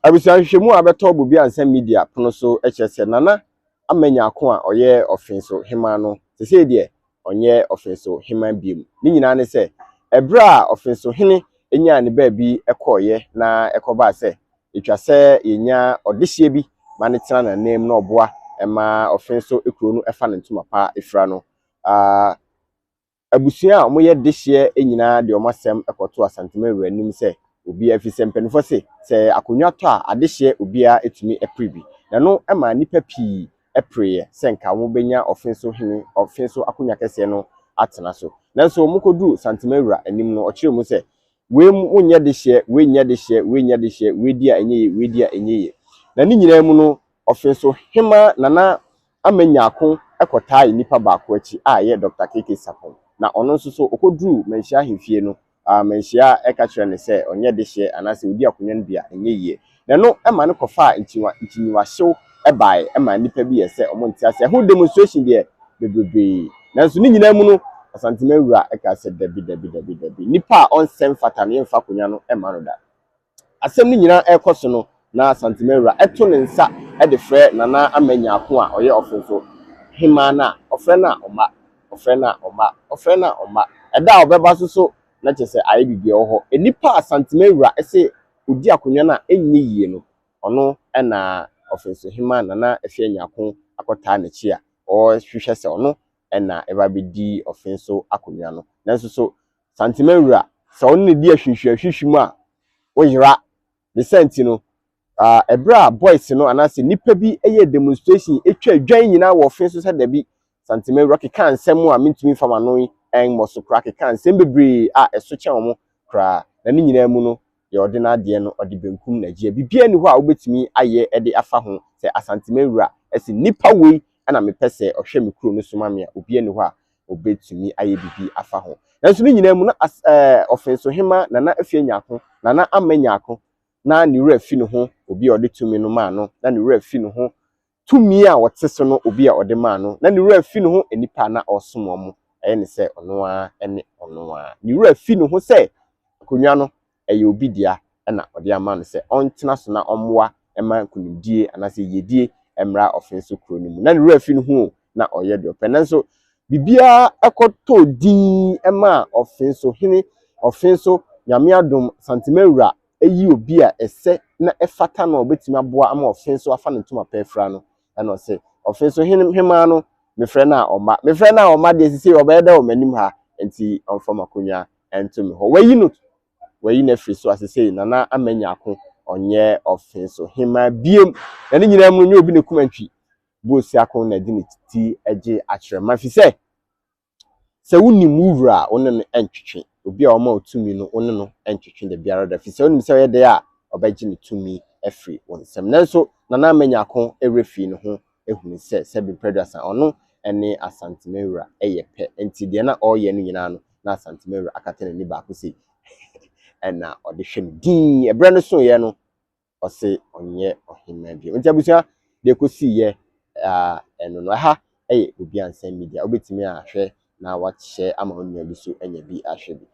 Abusua nhwehwɛmu a bɛtɔ Bobiansa Media pono so kyerɛ sɛ Nana ama Nyarko a ɔyɛ Ɔfenso Hemmaa no, sesei deɛ ɔnyɛ Ɔfenso Hemmaa biom. Ne nyinaa ne sɛ, ɛberɛ a Ɔfenso Hene nyaa ne baabi kɔeɛ na ɛkɔbaa sɛ ɛtwa sɛ yɛnya ɔdehyeɛ bi ma no tena n'ananmu na ɔboa ma Ɔfenso kuro no fa ne ntoma pa fira no, ah, Abusua a wɔyɛ dehyeɛ nyinaa de wɔn asɛm kɔto Asantema wura anim sɛ obiara, ɛfiri sɛ mpanimfoɔ se sɛ akonnwa tɔ a, adehyeɛ obiara tumi pere bi. Na ɛno maa nnipa pii pereeɛ sɛ anka wɔbɛnya ɔfe so hene, ɔfe so akonnwa kɛseɛ no atena so. Nanso wɔkɔduruu Santema wura anim no, ɔkyerɛɛ mu sɛ, Wei mu nyɛ dehyeɛ, wei nyɛ dehyeɛ, wei nyɛ dehyeɛ, wei di a ɛnyɛ yie, wei di a ɛnyɛ yie. Na ne nyinaa mu no, Ɔfe so hema Nana Ama Nyarko kɔtaae nipa baako akyi a ɛyɛ Dɔkta KK Sarpong. Na ɔno nso so ɔkɔduruu Manhyia ahemfie no, Manhyia ka kyerɛɛ no sɛ ɔnyɛ dehyeɛ anaasɛ ɔdi akonwa no bi a ɛnyɛ yie. Na ɛno ma no kɔfaa nkyinywa nkyinyiwahyew baeɛ ɛmaa nnipa bi yɛɛ sɛ wɔn nte aseɛ. Ɛho demonstration deɛ bebrebee. Nanso ne nyinaa mu no Asanteman wura kaa sɛ dabi dabi dabi dabi. Nipa a ɔnsɛ mfata no yɛmfa akonwa no mma no da. Asɛm no nyinaa rekɔ so no, na Santemawura to ne nsa de frɛ Nana Ama Nyarko a ɔyɛ Ɔforoso Hemmaa no a, ɔfrɛ no a ɔmma, ɔfrɛ no a ɔmma, ɔfrɛ no a ɔmma. Ɛda a ɔbɛba nso so na kyerɛ sɛ ayɛ biribi, ɔwɔ hɔ. Nnipa a Santemawura se ɔdi akonnwa no a ɛnyɛ yie no, ɔno na Ɔforoso Hemmaa Nana Afia Nyarko akɔtaa n'akyi a ɔrehwehwɛ sɛ ɔno na ɛba bɛdi ɔforoso akonnwa no. Nanso so Santema wura, sɛ wo ne no di ahwinhwiahwihwi mu a, wo yera. Ne saa nti no, ah, bere a boys no anaasɛ nnipa bi yɛɛ demonstration, twaa dwan nyinaa wɔ ɔfe so sɛ dabi, Santema wura kekaa nsɛm a mentumi mfa m'ano mmɔ so koraa, kekaa nsɛm bebree a ɛso kyɛn wɔn koraa, na ne nyinaa mu no, deɛ ɔde n'adeɛ no ɔde benkum na gyeɛ biribiara nni hɔ a wobɛtumi ayɛ de afa ho sɛ Asanteman wura se nnipa wei na mepɛ sɛ ɔhwɛ me kuro no so ma me a obiara nni hɔ a ɔbɛtumi ayɛ biribi afa ho nanso ne nyinaa mu na as ɛɛ Ɔfensohema Nana Afie Nyarko Nana Ammah Nyarko na ne wura fi ne ho obi a ɔde tumi no maa no na ne wura fi ne ho tumi a ɔte so no obi a ɔde maa no, na ne werɛ afi ne ho nnipa a na ɔresom wɔn, ɛyɛ no sɛ ɔno ara ne ɔno ara. Ne werɛ afi ne ho sɛ akonnwa no, ɛyɛ obi dea na ɔde ama no sɛ ɔntena so na ɔmmoa mma nkonimdie anaasɛ yiyedie mmra ɔfee so kuro no mu. Na ne werɛ afi ne ho o, na ɔreyɛ deɛ ɔpɛ. Nanso biribiara kɔtɔɔ dinn maa ɔfee so hene, ɔfee so Nyame adom, Santeman wura, ayi obi a ɛsɛ na ɛfata no a ɔbɛtumi aboa ama ɔfe nso afa ne ntoma pa afira no, ɛna ɔse ɔfe nso, Hene, hemaa no mefrɛ no a ɔmma? Mefrɛ no a ɔmma deɛ sisei ɔbɛyɛ dɛ wɔ m'anim ha, enti ɔmfa m'akonnwa nto me hɔ. Wayi no, wayi no afiri so a sisei Nana ama anya ako, ɔnyɛ ɔfe nso hemaa biom. Na ne nyinaa mu no, nyɛ obi na ɛkum antwi, Boosiako na ɛde ne ti gye akyerɛ ma, ɛfiri sɛ Sɛ wunim wo wura a, wo ne no ntwetwe. Obi a ɔma wo tumi no, wo ne no ntwetwe da biara da, efisɛ wunim sɛ ɔyɛ dɛn a, ɔbɛgye ne tumi afi wo nsam. Nanso, Nana Manyako werɛ fii ne ho huu sɛ Sɛbi Mprɛduasa, ɔno ne Asanteman wura yɛ pɛ. Enti deɛ na ɔreyɛ no nyinaa no, na Asanteman wura akata n'ani baako sei na ɔde hwɛ no dinn. Ɛberɛ no soeɛ no, ɔse ɔnyɛ ɔhemmaa bio. Nti abusua, deɛ ɛkɔsiiɛ aa ɛno no. Ɛha ɛyɛ Obiansɛm Media, wobɛtumi ahwɛ na wahyɛ ama wo nua bi so anya bi ahwɛ bi.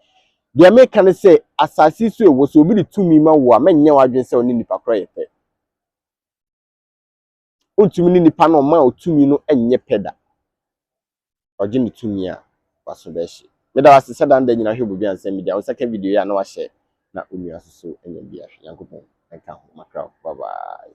Deɛ meka ne sɛ, asase yi so ɛwɔ, sɛ obi de tumi ma wo a, mɛnyɛ w'adwene sɛ wo ne nipa korɔ yɛ pɛ. Ontumi ne nipa no a ɔmaa wo tumi no nyɛ pɛ da. Ɔgye ne tumi a, w'aso bɛhye. Meda wo ase sɛ daa ne da nyinaa hwɛ Bobi Ansɛm Media. Wo nsa ka video yi a na wahyɛ na wo nua nso so anya bi ahwɛ. Nyankopɔn nka ho. Makra wo. Bye bye.